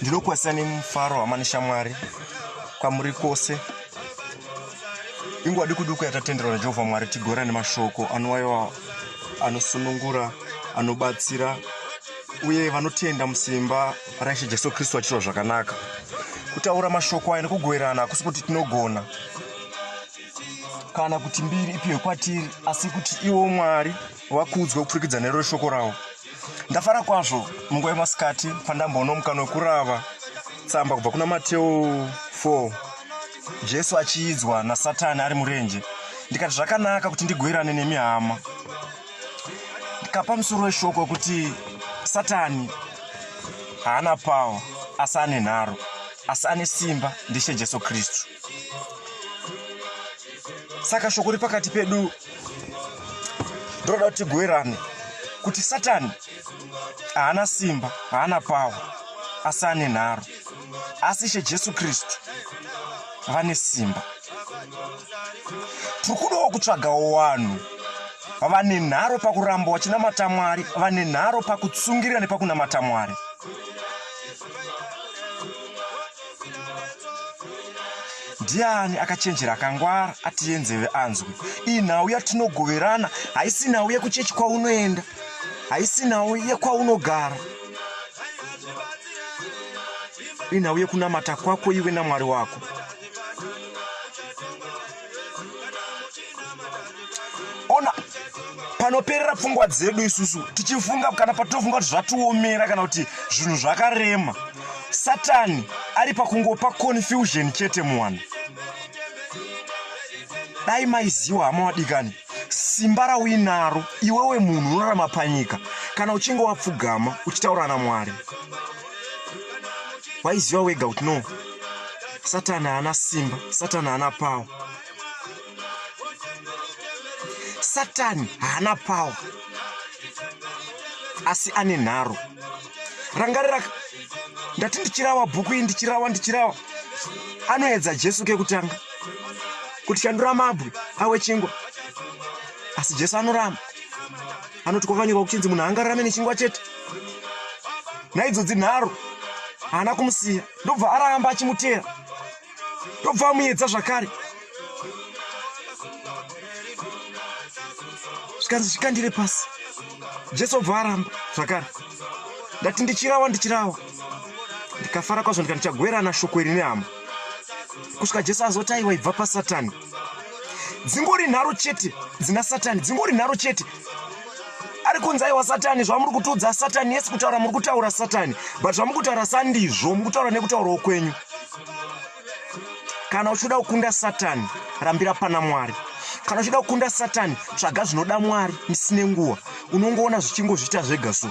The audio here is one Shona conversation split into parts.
ndinokwazisa nemufaro hama neshamwari kwamuri kwose inguva dikuduku yatatenderwa najehovha mwari tigora nemashoko anowaiwa anosunungura anobatsira uye vanotenda musimba raishe jesu kristu vachiitwa zvakanaka kutaura mashoko aya nekugoverana hakusi kuti tinogona kana kuti mbiri ipiwe kwatiri asi kuti iwo mwari vakuudzwa kupfurikidza nero shoko ravo ndafara kwazvo munguva yemasikati pandamboona mukano wekurava tsamba kubva kuna mateo 4 jesu achiidzwa nasatani ari murenje ndikati zvakanaka kuti ndigoirane nemi hama ndikapa musoro weshoko wekuti satani haana pawa asi ane nharo asi ane simba ndishe jesu kristu saka shoko riri pakati pedu ndinoda kuti tigoerane kuti satani haana simba haana pawa asi ane nharo asi ishe jesu kristu vane simba tiri kudawo kutsvagawo vanhu vane nharo pakuramba vachinamata mwari vane nharo pakutsungirira nepakunamata mwari ndiani akachenjera akangwara atiye nzeve anzwe iyi nhau yatinogoverana haisi nhau yekuchechi kwaunoenda haisi nhau yekwaunogara inhau yekunamata kwako iwe namwari wako ona panoperera pfungwa dzedu isusu tichifunga kana patinofunga kuti zvatiomera kana kuti zvinhu zvakarema satani ari pakungopa confusion chete muwana dai maiziwa hama wadikani simba rauinaro iwewe munhu unorarama panyika kana uchinge wapfugama uchitaura namwari waiziva wega kuti no satani haana simba satani haana pawa satani haana pawa asi ane nharo rangarira ndati ndichirawa bhuku iyi ndichirawa ndichirawa anoedza jesu kekutanga kuti shandura mabwe awe chingwa asi jesu anoramba anoti kwakanyorwa kuchinzi munhu angarame nechingwa chete naidzodzi nharo haana kumusiya ndobva aramba achimuteera ndobva amuedza zvakare zvikanzi zvikandire pasi jesu obva aramba zvakare ndati ndichirawa ndichirawa ndikafara kwazvo ndika ndichagwerana shoko iri nehama kusvika jesu azoti aiwa ibva pasatani dzingori nharo chete dzina satani dzingori nharo chete ari kunzi aiwa satani zvamuri kutiudza satani yesi kutaura muri kutaura satani but zvamuri kutaura sandizvo muri kutaura nekutaurawo kwenyu kana uchida kukunda satani rambira pana mwari kana uchida kukunda satani tsvaga zvinoda mwari misine nguva unongoona zvichingozviita zvega so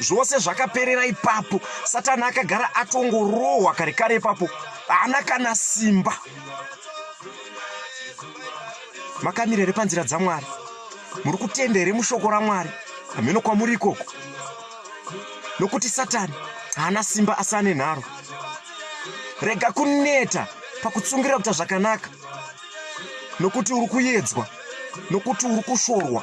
zvose zvakaperera ipapo satani akagara atongorohwa kare kare ipapo haana kana simba makamira here panzira dzamwari muri kutenda here mushoko ramwari hameno kwamuri ikoko nokuti satani haana simba asi ane nharo rega kuneta pakutsungirira kuita zvakanaka nokuti uri kuyedzwa nokuti uri kushorwa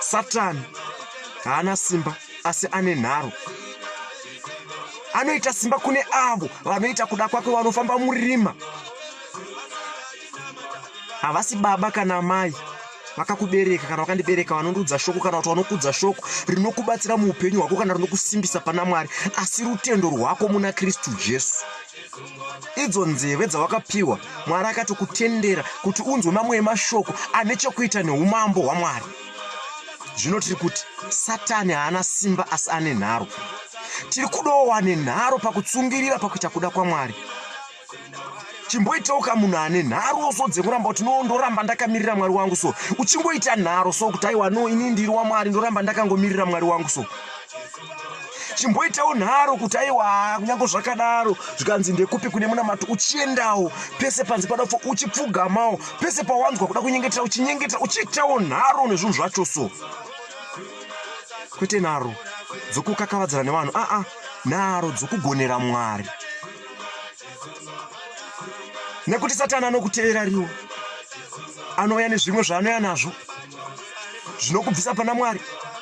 satani haana simba asi ane nharo anoita simba kune avo vanoita kuda kwake vanofamba murima havasi baba kana amai vakakubereka kana vakandibereka vanondiudza shoko kana kuti vanokudza shoko rinokubatsira muupenyu hwako kana rinokusimbisa pana mwari asi rutendo rwako muna kristu jesu idzo nzeve dzawakapiwa mwari akatokutendera kuti unzwe mamwe emashoko ane chokuita neumambo hwamwari zvino tiri kuti satani haana simba asi ane nharo tiri kudawo wane nharo pakutsungirira pakuita kuda kwamwari chimboitauka munhu ane nharo so dzekuramba kuti no ndoramba ndakamirira mwari wangu so uchingoita nharo so kuti aiwa no ini ndiri wamwari ndoramba ndakangomirira mwari wangu so chimboitawo nharo kuti aiwa kunyange zvakadaro zvikanzi ndekupi kune munamato uchiendawo pese panzi pada kufa uchipfugamawo pese pawanzwa kuda kunyengetera uchinyengetera uchiitawo nharo nezvinhu zvacho so kwete nharo dzokukakavadzana nevanhu aa ah, ah, nharo dzokugonera mwari nekuti satani anokutevera riwo anouya nezvimwe zvaanoya nazvo zvinokubvisa pana mwari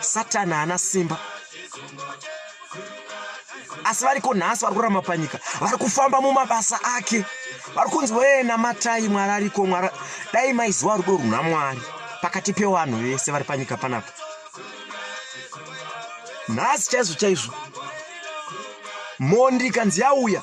satani haana simba asi variko nhasi vari kurama panyika vari kufamba mumabasa ake vari kunzi wee namatai mwari ariko mwari dai maiziva rudo runa mwari pakati pevanhu vese vari panyika panapa nhasi chaizvo chaizvo mhondi ikanzi yauya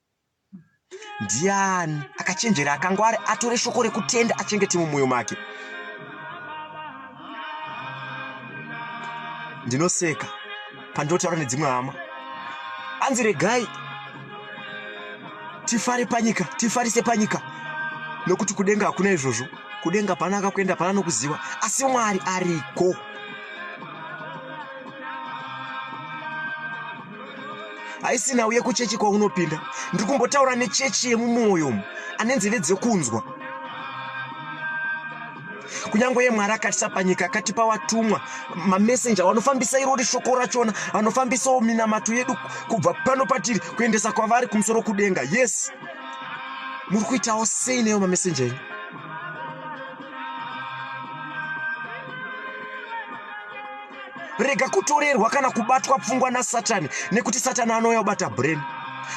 ndiani akachenjera akangwari atore shoko rekutenda achengete mumwoyo make ndinoseka pandinotaura nedzimwe hama anzi regai tifare panyika tifarise panyika nokuti kudenga hakuna izvozvo kudenga pana akakuenda pana nokuziva asi mwari ariko haisi nhau yekuchechi kwaunopinda ndiri kumbotaura nechechi yemumwoyo umu ane nzeve dzekunzwa kunyange yemwari akatisa panyika akatipa watumwa mamesenja vanofambisa irori shoko rachona vanofambisawo minamato yedu kubva pano patiri kuendesa kwavari kumusoro kudenga yes muri kuitawo sei neyo mamesenja enyu rega kutorerwa kana kubatwa pfungwa nasatani nekuti satani anouya kubata brain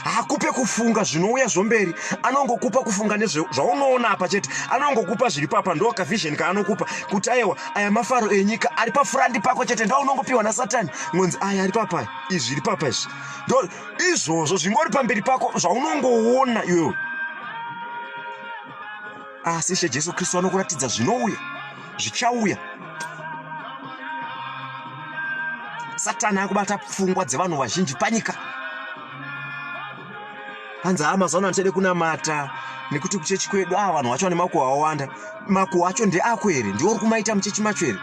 hakupe kufunga zvinouya zvomberi anongokupa kufunga nezvaunoona apa chete anongokupa zviri papa ndo kavhizheni kaanokupa kuti aiwa aya mafaro enyika ari pafurandi pako chete ndo unongopiwa nasatani ngonzi aya ari papa izvi zviri papa izvi ndo izvozvo zvingori pamberi pako zvaunongoona iwewe Asi Ishe Jesu Kristu anokuratidza zvinouya, zvichauya. Satani akubata pfungwa dzevanhu vazhinji panyika. Hanzi haa mazuva ano handichade kunamata nekuti kuchechi kwedu aa ah, vanhu vacho vane makuhwa awanda. Makuhwa acho ndeako here? Ndiwo uri kumaita muchechi macho here?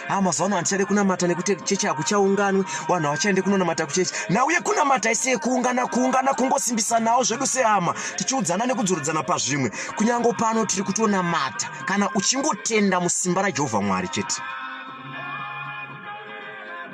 haa mazuva ano handichade kunamata nekuti chechi hakuchaunganwe vanhu havachaende kunonamata kuchechi nauye kunamata ese kuungana kuungana kungosimbisanawo zvedu sehama tichiudzana nekudzorodzana pazvimwe kunyange pano tiri kutonamata kana uchingotenda musimba rajehovha mwari chete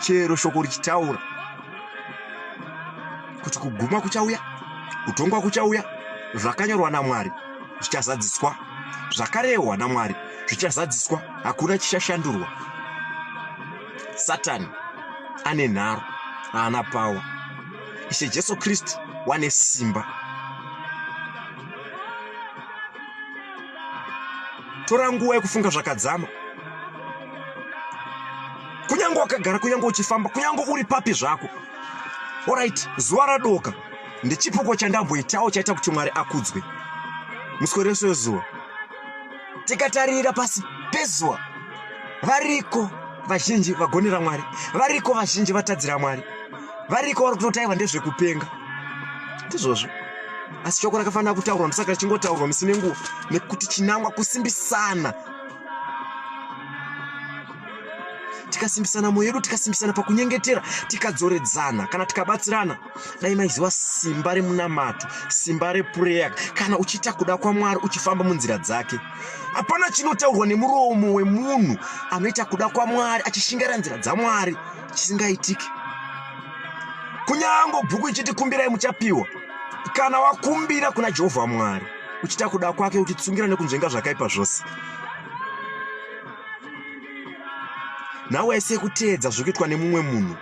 chero shoko richitaura kuti kuguma kuchauya kutongwa kuchauya zvakanyorwa namwari zvichazadziswa zvakarehwa namwari zvichazadziswa hakuna chichashandurwa satani ane nharo haana pawa ishe jesu kristu wane simba tora nguva yekufunga zvakadzama kunyange wakagara kunyange uchifamba kunyange uri papi zvako orit zuva radoka ndechipoko chandamboitawo chaita kuti mwari akudzwe muswe rese wezuva tikatarira pasi pezuva variko vazhinji vagonera mwari variko vazhinji vatadzira mwari variko vari kutotaiva ndezvekupenga ndizvozvo asi shoko rakafanira kutaurwa ndosaka richingotaurwa misi nenguva nekuti chinangwa kusimbisana tikasimbisana mwoyo yedu tikasimbisana pakunyengetera tikadzoredzana kana tikabatsirana dai maiziva simba remunamato simba repureya kana uchiita kuda kwamwari uchifamba munzira dzake hapana chinotaurwa nemuromo wemunhu anoita kuda kwamwari achishingaira nzira dzamwari chisingaitiki kunyango bhuku ichiti kumbirai muchapiwa kana wakumbira kuna jehovha mwari uchita kuda kwake uchitsungira nekunzvenga zvakaipa zvose nhau waisiye kuteedza zviri kuitwa nemumwe munhu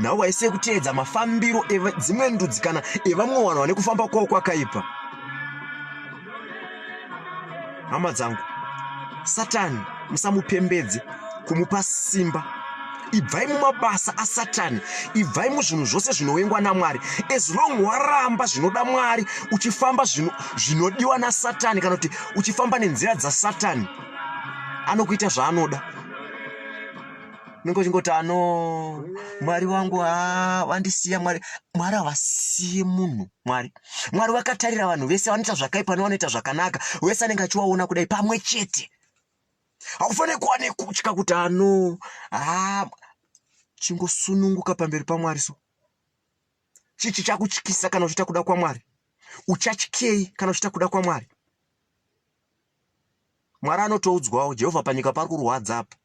nhau waisiye kuteedza mafambiro edzimwe ndudzi kana evamwe vanhu vane kufamba kwavo kwakaipa hama dzangu satani musamupembedze kumupa simba ibvai mumabasa asatani ibvai muzvinhu zvose zvinowengwa namwari as long waramba zvinoda mwari uchifamba zvinodiwa nasatani kana kuti uchifamba nenzira dzasatani anokuita zvaanoda ningochingoto ano mwari wangu ha vandisiya mwari mwari havasiye munhu mwari mwari vakatarira vanhu vese vanoita zvakaipa nevanoita zvakanaka wese anenge achiwaona kudai pamwe chete haufanire kuva nekutya kuti ano haa chingosununguka pamberi pamwari so chii chichakutyisa kana uchiita kuda kwamwari uchatyei kana uchiita kuda kwamwari mwari anotoudzwawo jehovha panyika pari kurwadza apa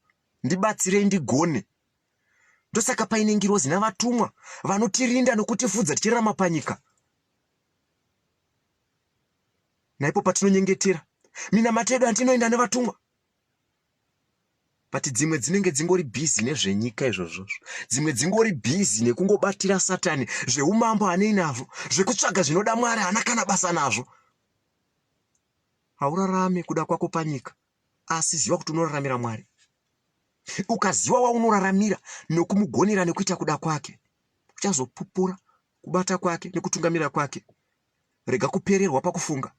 ndibatsirei ndigone ndosaka paine ngirozi navatumwa vanotirinda nokutifudza tichirarama panyika Naipo patinonyengetera minamato yedu hanti inoenda nevatumwa but dzimwe dzinenge dzingori bhizi nezvenyika izvozvozvo dzimwe dzingori bhizi nekungobatira satani zveumambo hanei nazvo zvekutsvaga zvinoda mwari hana kana basa nazvo haurarame kuda kwako panyika asi ziva kuti unoraramira mwari ukaziva waunoraramira nokumugonera nekuita kuda kwake uchazopupura kubata kwake nekutungamira kwake Rega kupererwa pakufunga.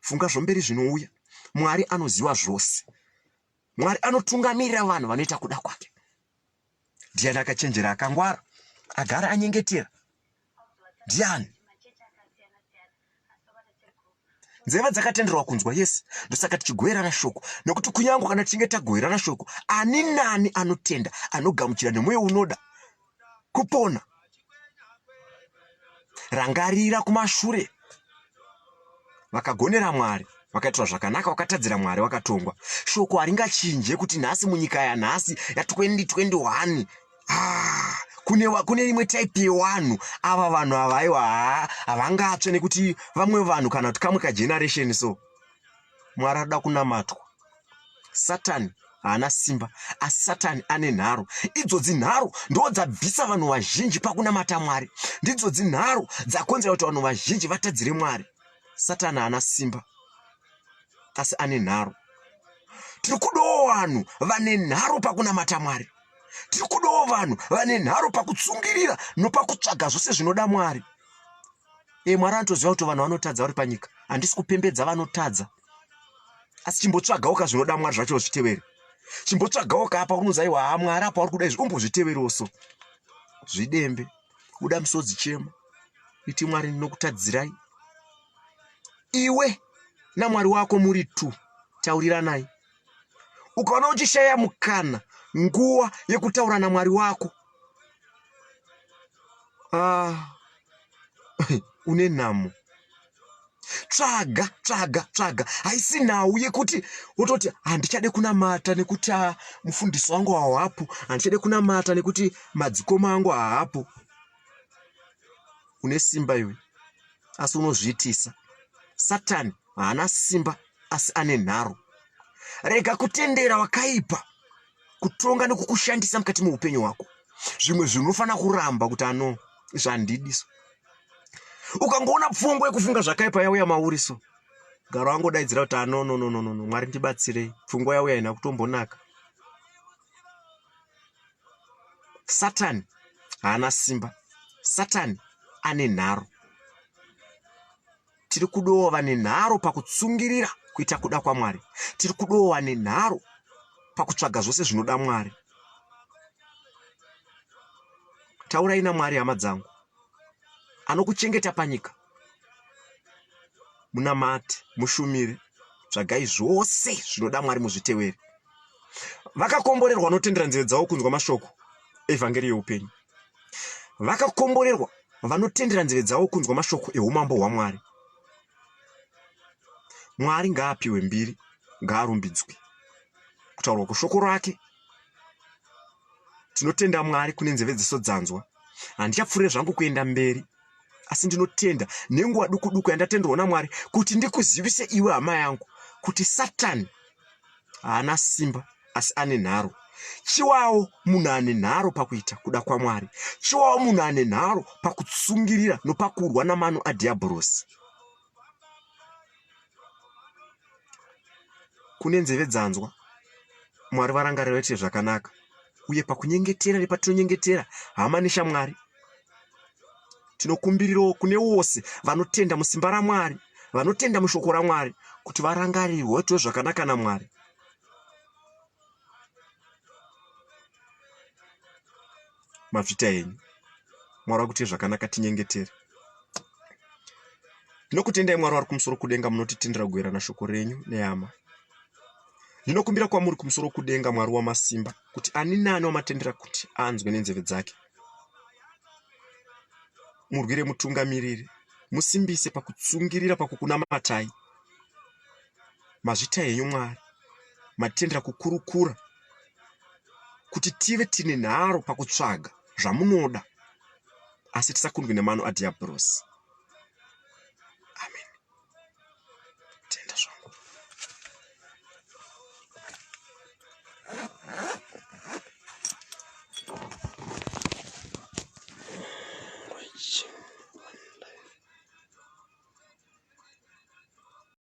Funga zvomberi zvinouya. Mwari anoziva zvose. Mwari anotungamirira vanhu vanoita kuda kwake. Ndiani akachenjera akangwara agara anyengetera? Ndiani? nzeve dzakatenderwa kunzwa yese ndosaka tichigoverana shoko nokuti kunyange kana tichinge tagoverana shoko ani nani anotenda anogamuchira nemwoyo unoda kupona. Rangarira kumashure vakagonera Mwari vakaitirwa zvakanaka wakatadzira mwari wakatongwa shoko haringachinje kuti nhasi munyika yanhasi ya2021 ah, kune, kune imwe type yevanhu ava vanhu avaiwa havangatsve nekuti vamwe vanhu kana kuti kamwe kageneration so mwari anoda kunamatwa satani haana simba asi satani ane nharo idzodzi nharo ndo dzabvisa vanhu vazhinji pakunamata mwari ndidzodzi nharo dzakonzera kuti vanhu vazhinji vatadzire mwari satani haana simba asi ane nharo tiri kudawo vanhu vane nharo pakunamata mwari tiri kudawo vanhu vane nharo pakutsungirira nopakutsvaga zvose zvinoda mwari e, mwari anotoziva kuti vanhu vanotadza vari panyika handisi kupembedza vanotadza asi chimbotsvagawo ka zvinoda mwari zvacho zvitevere chimbotsvagawo ka apa unozi aiwa ha mwari apa uri kuda izvi umbozviteverewo so zvidembe buda musodzi chema iti mwari ndinokutadzirai iwe namwari wako muri two tauriranai ukaona uchishaya mukana nguva yekutaura namwari wako ah, une nhamo tsvaga tsvaga tsvaga haisi nhau yekuti wototi handichade kunamata nekuti ah, mufundisi wangu haapo handichade kunamata nekuti madzikoma angu haapo une simba iwe asi unozviitisa satani haana simba asi ane nharo. Rega kutendera wakaipa kutonga nekukushandisa mukati meupenyu hwako. Zvimwe zvinhu unofanira kuramba kuti ano izvi handidiso. Ukangoona pfungwa yekufunga zvakaipa yauya mauri so garo angodaidzira kuti ano no no no no mwari ndibatsirei pfungwa yauya ina kutombonaka satani haana simba satani ane nharo tiri kudowa vane nharo pakutsungirira kuita kuda kwamwari tiri kudowa vane nharo pakutsvaga zvose zvinoda mwari taurai namwari hama dzangu anokuchengeta panyika munamati mushumire tsvagai zvose zvinoda mwari muzviteveri vakakomborerwa vanotendera nzeve dzavo kunzwa mashoko evhangeri yeupenyu vakakomborerwa vanotendera nzeve dzavo kunzwa mashoko eumambo hwamwari mwari ngaapiwe mbiri ngaarumbidzwe kutaurwa kweshoko rake tinotenda mwari kune nzeve dziso dzanzwa handichapfuure zvangu kuenda mberi asi ndinotenda nenguva duku duku yandatenderwa namwari kuti ndikuzivise iwe hama yangu kuti satani haana simba asi ane nharo chiwawo munhu ane nharo pakuita kuda kwamwari chiwawo munhu ane nharo pakutsungirira nopakurwa namano adhiyabhorosi kune nzeve dzanzwa mwari varangarira vaitire zvakanaka uye pakunyengetera nepatinonyengetera hama neshamwari tinokumbirirawo kune wose vanotenda musimba ramwari vanotenda mushoko ramwari kuti varangarirwe vaitirwe zvakanaka namwari mafita enyu mwari vakuitai zvakanaka tinyengetere ndinokutendai mwari vari kumusoro kudenga munotitendera kugoverana shoko renyu neyama ndinokumbira kwamuri kumusoro kudenga mwari wamasimba kuti ani naani wamatendera kuti anzwe nenzeve dzake murwire mutungamiriri musimbise pakutsungirira pakukunamatai mazvita henyu mwari matendera kukurukura kuti tive tine nharo pakutsvaga zvamunoda asi tisakundwi nemano adhiabhurosi amen tenda zvangu